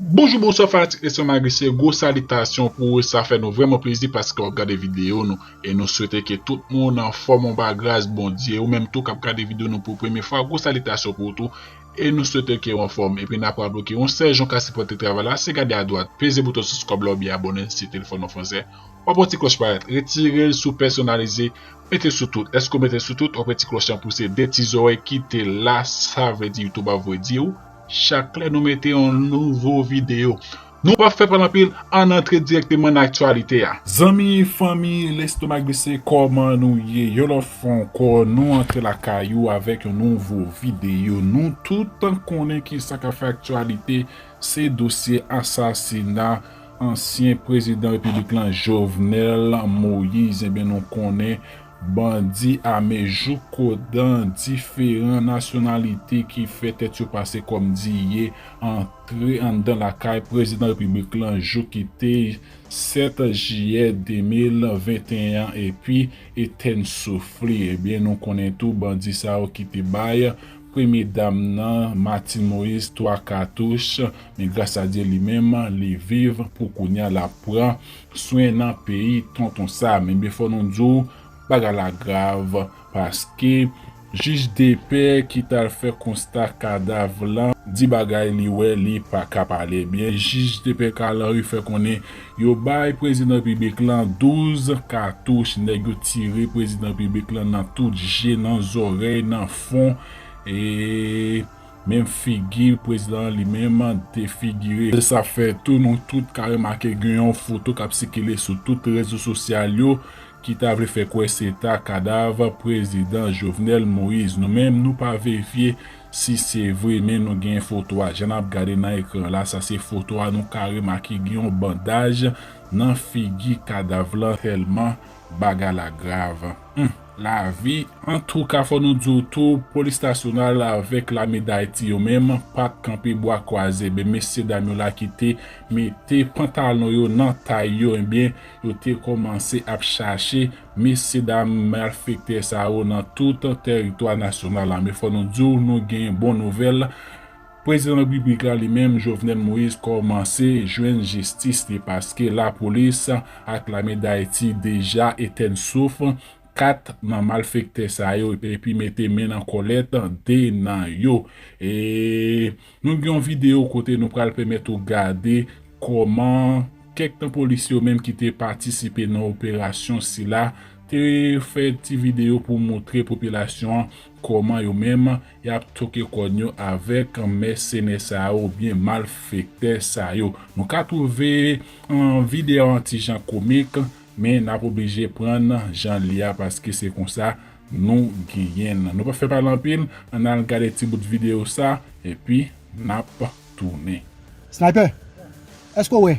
Bonjou bonswa fanatik leson Magicien gwo salitasyon pou ou sa fè nou vrèman plezi paske wap gade video nou e nou swete ke tout moun anfòm ou pa gras Bondye ou menm tou kap gade video nou pou premye fwa gwo salitasyon pou ou tou e nou swete kew anfòm epi nap raple ou ke yon sèl jan ou ka sipòte travay la se gade adwat peze bouton sibskrab la oubyen abòne si telefòn ou fransè wap wè ti klòch parèt retirel sou pèsonalize mete sou tout lèske ou metel sou tout wap wè ti klòch lan pouse de ti zòrèy kite la sa vle di youtube ap voye diw Chak lè nou mete yon nouvo video. Nou pap fè pale anpil ann antre direkteman nan aktyalite a. Zanmi fanmi lestomak bese kòman nou ye yon lòt fwa ankò nou antre lakay ou avèk yon nouvo video nou tout konnen kisa kap fè aktyalite se dosye asasina ansyen prezidan repiblik lan Jovenel Moïse ebyen nou konnen Bandi ame jouk ko dan diferan nasyonalite ki fè tèt yo pase kòm diye antre anndan lakay Prezidan Repiblik lan jou ki te 7 jiyè 2021 an epi etèn souf li. Ebyen nou konnen tou bandi sa yo ki te bay Premye Dam nan Martine Moïse 3 katouch men gras a Dye li menm li viv pou kounya l ap pran Swen nan peyi tonton Sam ebyen fò nou di w bagay la grav paske jij depè ki t al fè konsta kadav lan di bagay li wè li pa ka pale ebyen jij depè Carl Henry fè konnen yo bay prezidan repiblik lan 12 katouch nèg yo tire prezidan repiblik lan nan tout je nan zòrèy nan fon e Menm figi prezidan an li menm defigire. Se sa fè tou nou tout ka remake gen yon foto k ap sikile sou tout rezo sosyal yo ki ta vle fè kwè se ta kadav prezidan Jovenel Moise. Nou menm nou pa verifye si se vre men nou gen foto a. Jan n ap gade nan ekran la, sa se foto a nou ka remake gen yon bandaj nan figi kadav lan tèlman. Bagay la grav humm lavi. Antouka fò nou di w tou polis nasyonal avèk lame dayiti yo menm pa t kanpe bwa kwaze ebyen mesye dam yo la ki te mete pantalon yo nan tay yo ebyen yo te kòmanse ap chache mesye dam malfektè sa yo nan tout tèritwa nasyonal la men fò nou di w nou gen bon nouvèl Prezidan Repiblik la li menm Jovenel Moïse kòmanse jwenn jistis li paske lapolis ak lame Dayiti deja etèn souf 4 nan malfektè sa yo epi mete men nan kòlèt 2 nan yo e nou gen yon videyo kote nou pral pèmèt ou gade kòman kèk nan polisye yo menm ki te patisipe nan operasyon sila te fè ti videyo pou moutre popilasyon an kòman yo menm Yap toke kòn yo avèk mèsenè sa yo oubyen malfektè sa yo. Nou ka twouve video an ti jan komik, men nap oblije prann janl ye a paske se konsa nou genyenl. Nou pap fè pale anpil, ann al gade ti bout video sa epi nap tounen. Sniper! Eske w wè?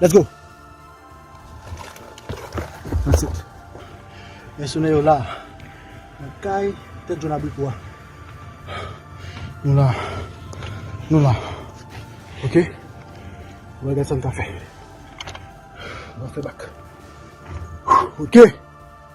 Let's go. That's it. Mèsenè yo la. Nan kay tèt jòn abrik ou a. Nou la. Nou la. Ok. Mwen gade sa m ka fè. Mwen fè bak. Ok.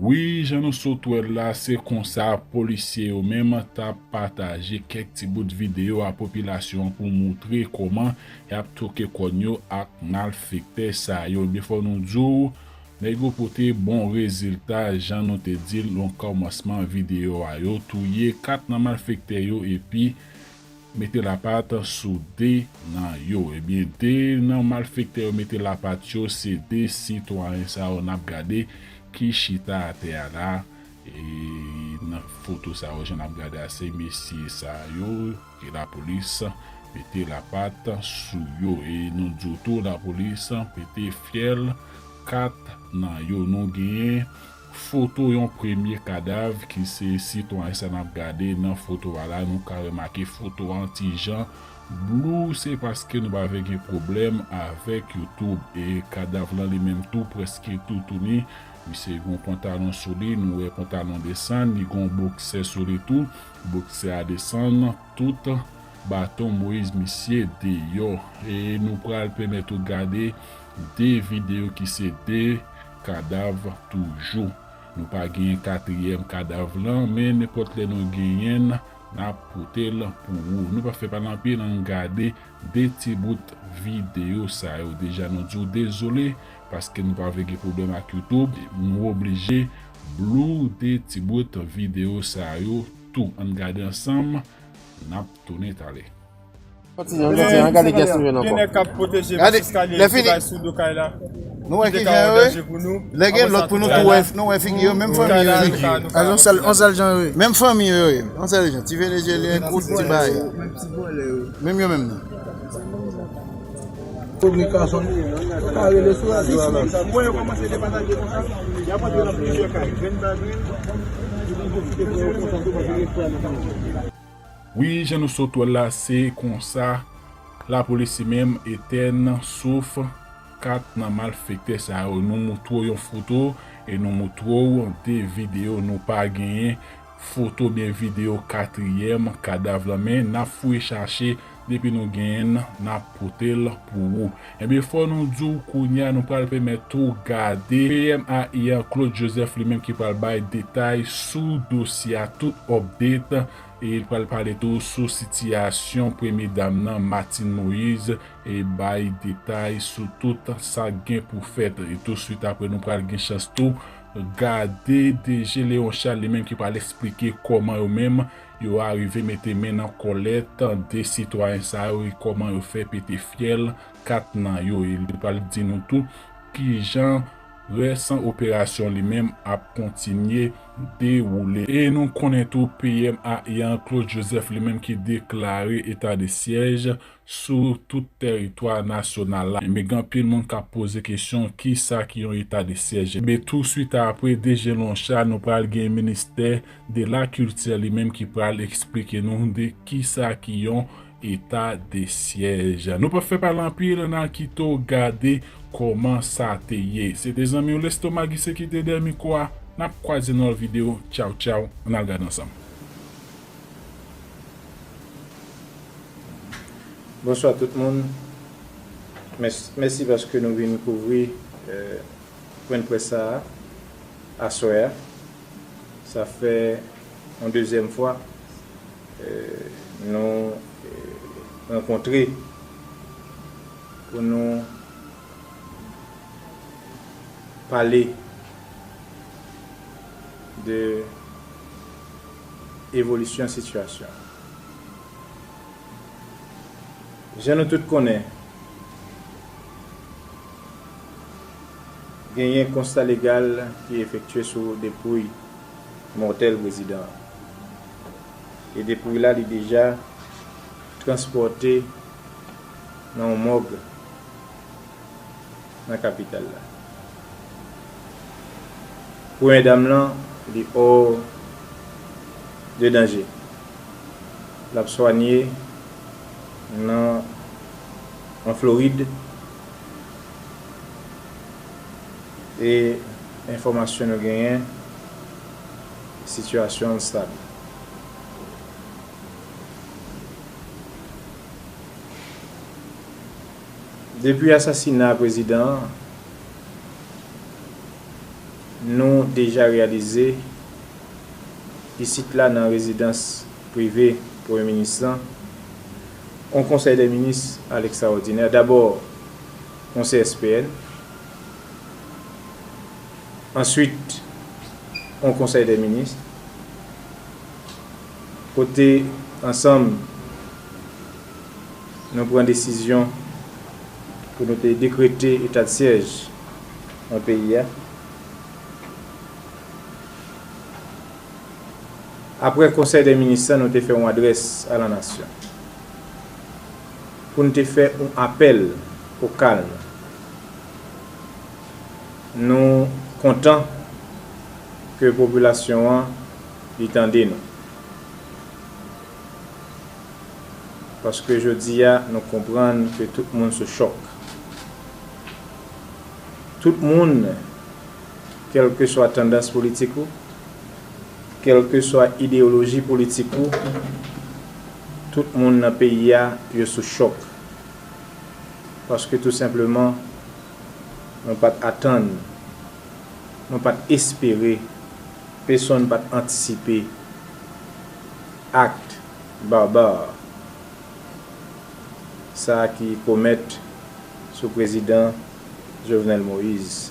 Wi jan nou sot wèl la se konsa polisye yo menm tap pataje kèk ti bout video a popilasyon an pou moutre kòman Yap toke kòn yo ak malfektè sa yo ebyen fò nou diw nèg yo pote bon rezilta jan nou te dil nan kòmansman videyo a yo touye 4 nan malfektè yo epi mete lapat sou 2 nan yo ebyen 2 nan malfektè yo mete lapat yo se 2 sitwayen sa yo nap gade ki chita atè a la e nan foto sa yo jan nap gade a se mesye sa yo. Ke la polis pete la pat sou yo e nou diw tou la polis pete fyèl 4 nan yo nou genyen foto yon premye kadav ki se sitwayen sa nap gade nan foto a la nou ka remake foto an ti jan blou se paske nou pa vle gen pwoblèm avèk youtube e kadav lan li menm tou prèske toutouni misye gon pantalon sou li nou wè pantalon desann li gon boksè sou li tou. Boksè a desann tout baton moise misye deyò e nou pral pèmèt ou gade 2 video ki se 2 kadav toujou nou pa genyen katriyèm kadav lan men nenpòt lè nou genyenn nap potel pou ou nou pa fè pale anpil ann gade 2 ti bout video sa yo deja nou diw dezole Paske nou pa vle gen pwoblèm ak YouTube, nou oblije blurde ti bout video sa yo tou. Ann gade ansanm, nap tounen talè. Gen nèg kap pwoteje vant eskalye yo ki bay sou do kay la ki te ka yon danje pou nou. Kay la. Wi jan nou sot wèl la se konsa la police menm etèn souf 4 nan malfektè sa yo nou moutrew yon foto e nou moutrew 2 video nou pa genyen foto byen video 4 yèm kadav lan men nap fouye chache Depi nou genyenn nap potel pou ou. Ebyen fò nou diw kounya nou pral pèmèt ou gade PM ai an Claude Joseph li menm ki pral bay detay sou dosye a tout update e li pral pale tou sou sitiyasyon premye dam nan Martine Moise e bay detay sou tout sak gen pou fèt e tou swit apre nou pral gen chans tou gade DG Leon Charles li menm ki pral esplike kòman yo menm Yo arive mete men nan kòlèt 2 sitwayen sa yo e kòman yo fè pete fyèl 4 nan yo e li pral di nou tou kijan rès operasyon li menm ap kontinye dewoule. E nou konnen tou PM Ayiti an Claude Joseph li menm ki deklare eta de syèj sou tout tèritwa nasyonal la enben gen anpil moun k ap poze kesyon kisa ki yon eta de syèj enben tou swit apre DG Lonsha nou pral gen ministè de la kiltè li menm ki pral esplike nou de kisa ki yon eta de syèj nou pap fè pale anpil nan kite w gade kòman sa te ye se te zanmi w Lestomaguise ki te dèyè mikwo a n ap kwaze nan lòt videyo tchaw tchaw an n al gade ansanm. Bonswa tout moun, mèsi paske nou vin kouvri pwen dprès sa a aswè a. Sa fè yon dezyèm fwa nou rankontre pou nou pale de evolisyon sitiyasyon. Jan nou tout konnen, genyen konsta legal ki efektye sou depouy mòtèl prezidan an. E depouy la li deja transpòte nan yon mòg. nan kapital la. Premye dam lan li hors de danger. Lap swanye nan an Floride e enfòmasyon nou genyen sitiyasyon l stab. Depi asasina prezidan an, nou deja reyalize isit la nan rezidans prive premye minis lan, yon konsèy dè minis a lekstraòdinè, dabò yon CSPN, answit yon konsèy dè minis, kote ansanm. Nou pran desizyon pou nou te dekrete etadsyèj nan peyi a apre Konsèy dè Minis la nou te fè yon adrès a la nasyon pou n te fè yon apèl o kalm. Nou kontan ke popilasyon an li tande nou. Paske jodia nou konprann ke tout moun sou chòk. Tout moun, kèlkeswa tandans politik ou, kèlkeswa ideyoloji politik ou, tout moun nan peyi a yo sou chòk. Paske tou senpleman nou pat atann, nou pat espere, pesonn pat antisipe. Acte barbare sa ki komèt sou prezidan Jovenel Moise.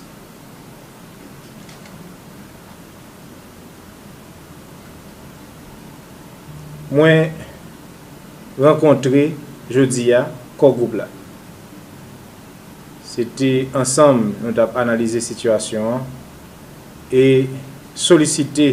Mwen rankontre jodi a Kò Gwoup la. Se te ansanm nou t ap analize sitiyasyon an e solisite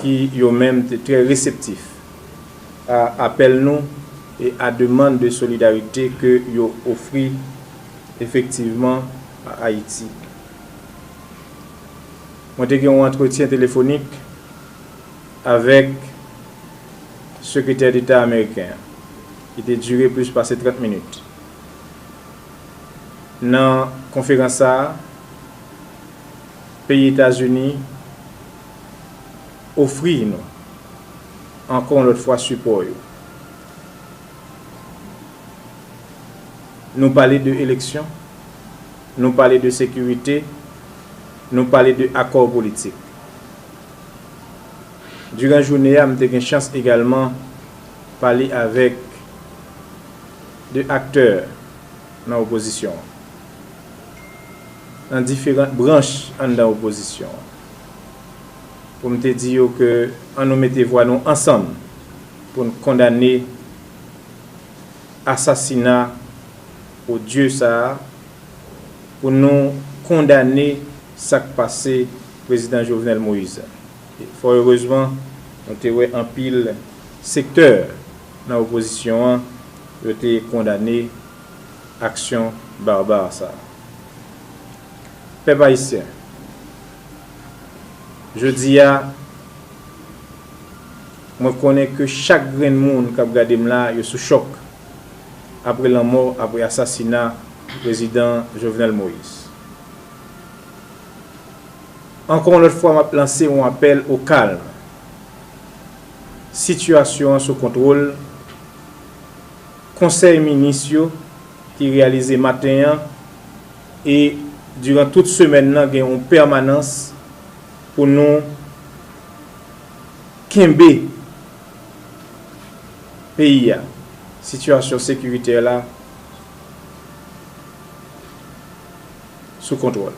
ki yo menm te trè reseptif a apèl nou e a demand de solidarite ke yo ofri efektivman a Ayiti. Mwen te gen yon antretyen telefonik avèk Sekretè Deta Ameriken an ki te dire plis pase 30 minit. Nan konferans sa a, peyi Etazini. ofri nou ankò yon lòt fwa sipò yo. Nou pale de eleksyon, nou pale de sekirite, nou pale de akò politik. Diran joune a m te gen chans egalman pale avèk de aktè nan opozisyon an, nan diferant branch anndan opozisyon an. pou m te di yo ke an nou mete vwa nou ansanm pou n kondane asasina odye sa a, pou nou kondane sa k pase Prezidan Jovenel Moïse la. Fò erezman, nou te wè anpil sektè nan opozisyon an yo te kondane aksyon barbar sa a. Pèp Ayisyen, jodi a, mwen konnen ke chak grenn moun kap gade m la, yo sou chòk apre lanmò, apre asasina Prezidan Jovenel Moïse. Ankò yon lòt fwa map lanse yon apèl o kalm. Sitiyasyon an sou kontwol. Konsèy Minis yo ki reyalize maten an, E diran tout semèn nan gen yon pèmanans pou nou kenbe peyi a, sitiyasyon sekiritè la sou kontwòl.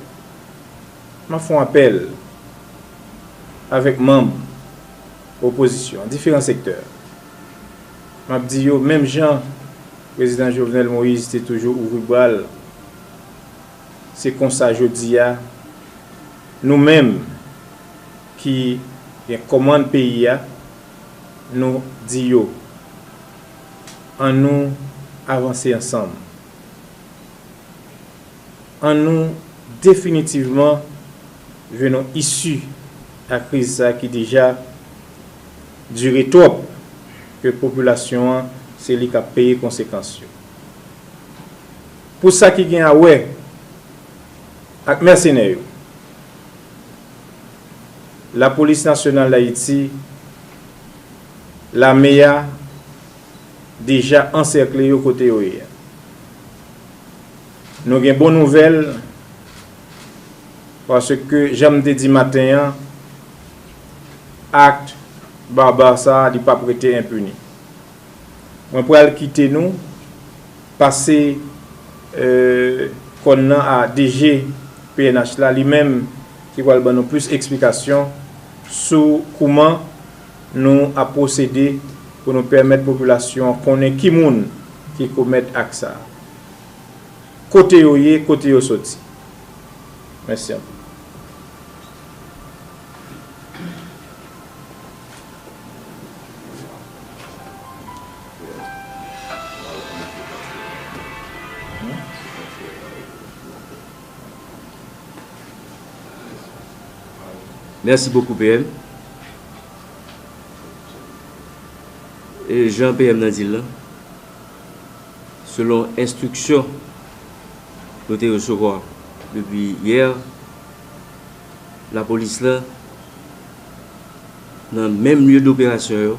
M ap fè yon apèl avèk manm opozisyon an, diferan sektè. M ap di yo menm jan. Prezidan Jovenel Moïse te toujou ouvri bra l. Se konsa jodi a, nou menm ki gen kòmand peyi a, nou di yo, An nou avanse ansanm. An nou definitivman jwenn yon isi a kriz sa ki deja dire twòp. Ke popilasyon an se li kap peye konsekans yo. Pou sa ki gen a wè ak mèsenè yo, Lapolis Nasyonal Dayiti, Lame a, deja ansèkle yo kote yo ye a. Nou gen bon nouvèl, paske jan m te di maten an, act barbar sa li pap rete impuni mwen pral kite nou pase kòn nan a DG pnh la li menm ki pral ban nou plis eksplikasyon sou kouman nou ap pwosede pou nou pèmèt popilasyon an konnen ki moun ki komèt act sa kote yo ye kote yo soti mèsi anpil. Merci beaucoup PM Jan PM nan di l lan selon enstriksyon nou te resevwa depi yè Lapolis la, nan menm lye doperasyon yo,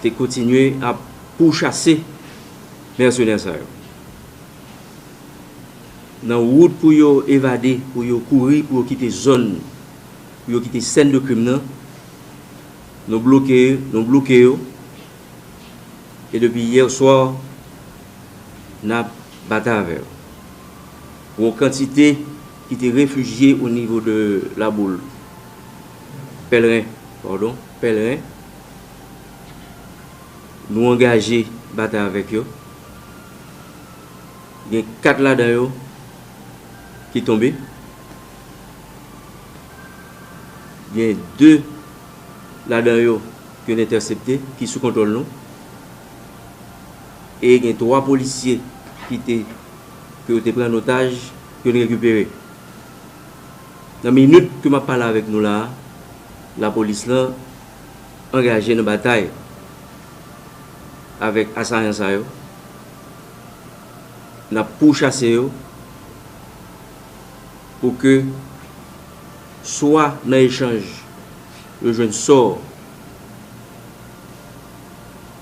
te kontinye ap pouchase mèsenè sa yo. Nan wout pou yo evade, pou yo kouri, pou yo kite zòn, pou yo kite sèn de krim nan, nou bloke, nou bloke yo, e depi yè swa, n ap batay avè yo. Yon kantite ki te refijye o nivo de la boule pèlren, pardon, pèlren, nou angaje batay avèk yo. Gen 4 ladan yo ki tonbe. Gen 2 ladan yo ke n entèsepte, ki sou kontwòl nou. E gen 3 polisye ki te. ke yo te pran an otaj pou yo te rekipere. Nan minit ke map pale avèk nou la a, lapolis la angaje nan batay avèk asayan sa yo, nap pou chase yo pou ke swa nan echanj yo jwenn sò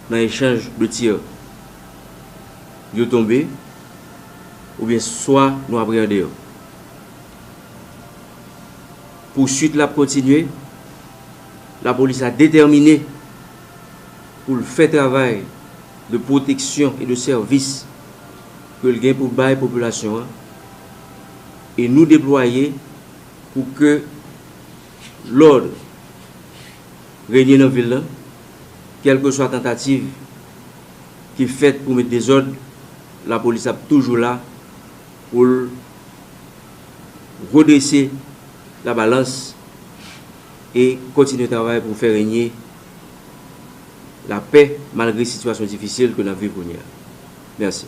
nan echanj de tir. yo tonbe oubyen swa nou apreyande yo. Pouswit la ap kontinye, lapolis la detèmine pou l fè travay de pwoteksyon e de sèvis ke l gen pou bay popilasyon an e nou deplwaye pou ke lòd renye nan vil lan kèlkeswa tantativ ki fèt pou met dezòd, lapolis ap toujou la pou l redrese labalans e kontinye travay pou fè renye lapè malgre sitiyasyon difisil ke n ap viv kounye a. Mèsi.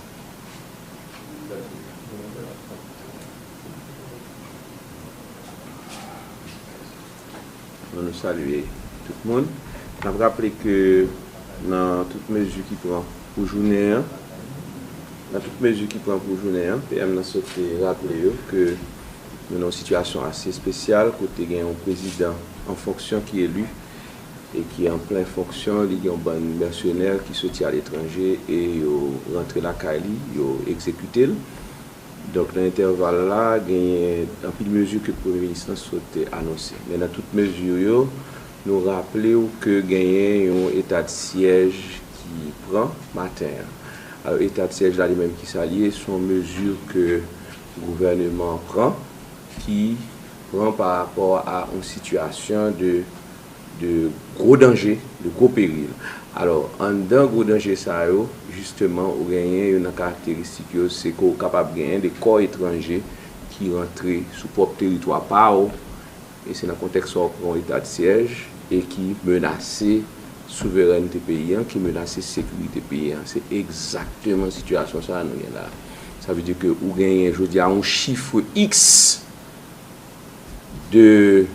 Bon nou salye tout moun. N ap raple ke nan tout mezi ki pran pou jounen an, nan tout mezi ki pran pou jounen an, PM nan sot te raple yo ke nou nan yon sitiyasyon ase espesyal kote gen yon prezidan an fonksyon ki eli e ki an plen fonksyon li gen yon bann mèsenè ki soti aletranje e yo rantre lakay li, yo egzekite l. Donk nan entèval la genyen anpil mezi ke premye minis lan sot anonse. Men nan tout mezi yo, nou raple ou ke genyen yon etadsyèj ki pran maten an. Alò etadsyèj la li menm ki sa li ye? Se yon mezi ke gouvèneman an pran ki pran pa rapò a yon sitiyasyon de. de gwo danje, de gwo peril. Alò, anndan gwo danje sa yo, jisteman, ou genyen youn nan karakteristik yo, se ke w kapab genyen de kò etranje ki rantre sou pwòp teritwa pa w, e se nan kontèks sa w pran yon etadsyèj, e ki menase souverènte peyi an, ki menase sekirite peyi an. Se egzakteman sitiyasyon sa a nou gen la a. Sa vle di ke ou genyen jodi a yon chifre iks. 2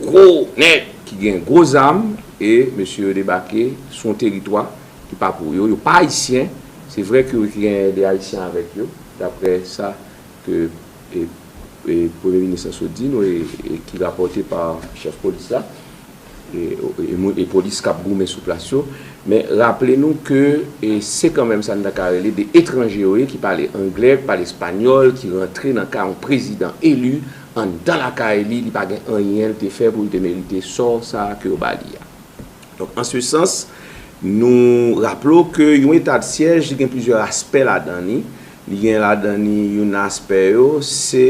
gwo nèg ki gen gwo zam e mesye yo debake sou yon teritwa ki pa pou yo, yo pa ayisyen, se vre ke yo gen de ayisyen avèk yo, daprè sa ke premye minis la sot di nou e ki rapòte pa chèf polis la. e polis kap goumen sou plas yo, men raple nou ke se kanmenm sa nou ta ka rele de etranje yo ye ki pale angle, ki pale espanyòl, ki rantre nan ka yon prezidan eli anndan lakay li, li pa gen anyen li te fè pou li te merite sò sa ke yo ba li a. Donk an se sans, nou raple w ke yon etadsyèj li gen plizyè aspè ladan li, li gen ladan li youn nan aspè yo se.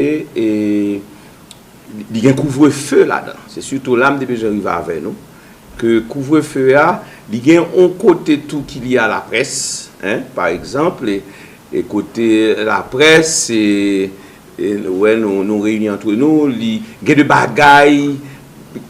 Li gen kouvrefe ladan. Se sitou la m te bezwen rive avè nou. Ke kouvrefe a, li gen yon kote tou ki lye a laprès. Pa egzanp, e kote laprès, se nou wè nou reyini antre nou, li gen de bagay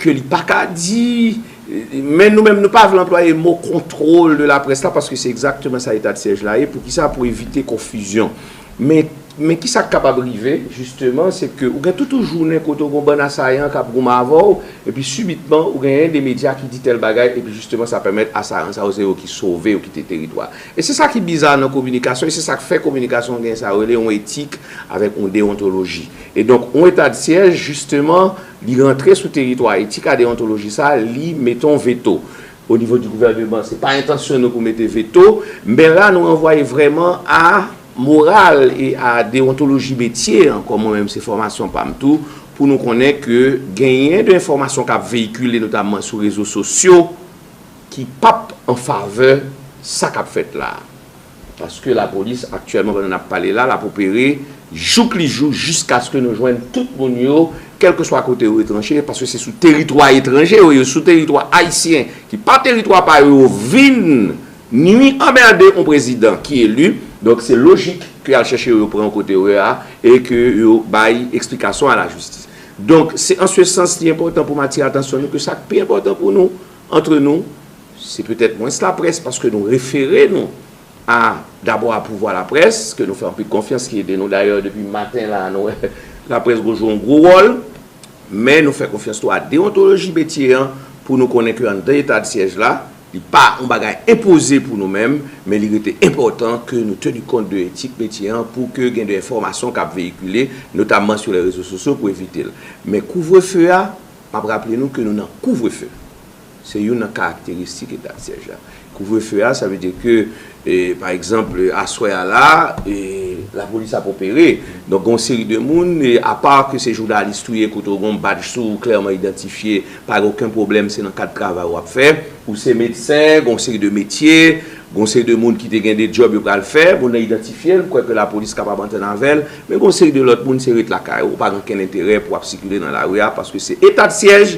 ke li pa ka di. Men nou menm nou pa vle anplwaye mo kontwol de laprès la paske se egzakteman sa etadsiyèj la ye. Poukisa? Pou evite konfizyon. Men, men ki sa k kapab rive, jisteman, se ke ou gen tout yon jounen kote ou gen yon bann asayan k ap goumen avè w, epi sibitman, ou gen yon de medya ki di tèl bagay, epi jisteman sa pèmèt asayan sa yo se yo ki sove, yo kite teritwa a. E se sa ki biza nan kominikasyon, e se sa k fè kominikasyon gen sa yo rele yon etik avèk yon dewontoloji. E donk, yon etadsyèj, jisteman, li rantre sou teritwa etik a dewontoloji sa a, li mete yon veto. O nivo di gouvèneman se pa entansyon nou pou mete veto, men la nou ranvwaye vrèman a moral e a dewontoloji metye an, kòm mwen menm se fòmasyon pa m tou, pou nou konnen ke genyen de enfòmasyon k ap veyikile notamman sou rezo sosyo ki p ap an favè sa k ap fèt la a. Paske lapolis aktyèlman pandan nap pale la lap opere jouk li jou jiskaske nou jwenn tout moun yo kèlkeswa kote yo retranche paske se sou teritwa etranje yo ye sou teritwa ayisyen ki pa teritwa pa yo yo vin nwi anmède yon prezidan ki eli donk se lojik ke yal chèche yo yo pran yo kote yo ye a e ke yo bay eksplikasyon a la jistis donk se an se sans li enpòtan poum atire atansyon nou ke sak pi enpòtan pou nou antre nou. Se petèt mwens laprès paske nou refere nou a dabò a pouvwa laprès ke nou fè anpil konfyans ki ede nou. Dayè depi maten la nou wè laprès gwo jwe yon gwo wòl. Men nou fè konfyans tou a dewontoloji metye an pou nou konnen ke anndan etadsyèj la li pa yon bagay enpoze pou nou menm men li rete enpòtan ke nou teni kont de etik metye an pou ke gen de enfòmasyon kap veyikile notamman sou lè rezo sosyo pou evite l. Men kouvrefe a, map raple nou ke nou nan kouvrefe. Se youn nan karakteristik eta syèj la. Kouvrefe a, sa vle di ke, pa egzanp, aswè a la, lapolis ap opere. Donk, gen yon seri de moun, apa ke se jounalis tou ye, kote ou gen yon badj sou ou klèman idantifye, pa gen oken pwoblèm, se nan kad travay ou ap fè. Ou se medsen, gen yon seri de metye, gen yon seri de moun ki te gen de djòb yo pral fè. Moun nan idantifye l, kwè ke lapolis kapab antann avè l. Men gen yon seri de lòt moun, se ret lakay ou, ou pa gen okenn enterè pou ap sikile nan lari a, paske se etadsiyèj,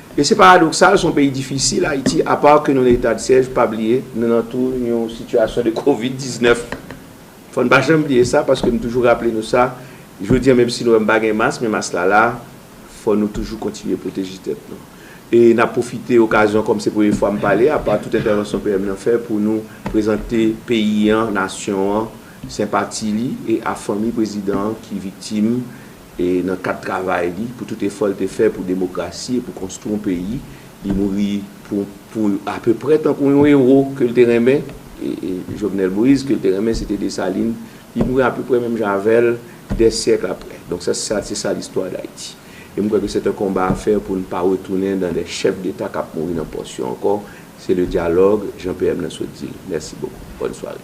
E se paradoksal son peyi difisil Ayiti apa ke nou nan eta de siège pa bliye nou nan tou yon sitiyasyon de covid 19 fò n pa janm bliye sa paske m toujou raple nou sa jodi an menm si nou wè m pa gen mas men mas la la fò nou toujou kontinye pwoteje tèt nou e n ap pwofite okazyon kòm se premye fwa m pale apa tout entèvansyon PM nan fè pou nou prezante peyi an nasyon an senpati li e a fanmi prezidan an ki viktim E nan kad travay li, pou tout efò l te fè pou demokrasi e pou konstwi yon peyi, li mouri pou apeprè tankou yon ewo ke l te renmen, Jovenel Moïse, ke l te renmen, se te Dessalines, li mouri apeprè menm jan avè l, dè syèkl aprè. Donk sa se sa listwa Dayiti. E m kwè ke sèt an konba a fè pou n pa retounen nan dè chèf deta k ap mouri nan pòs yo ankò, se le dyalòg, jan PM nan sot di l. Mèsi bokou. Bòn sware.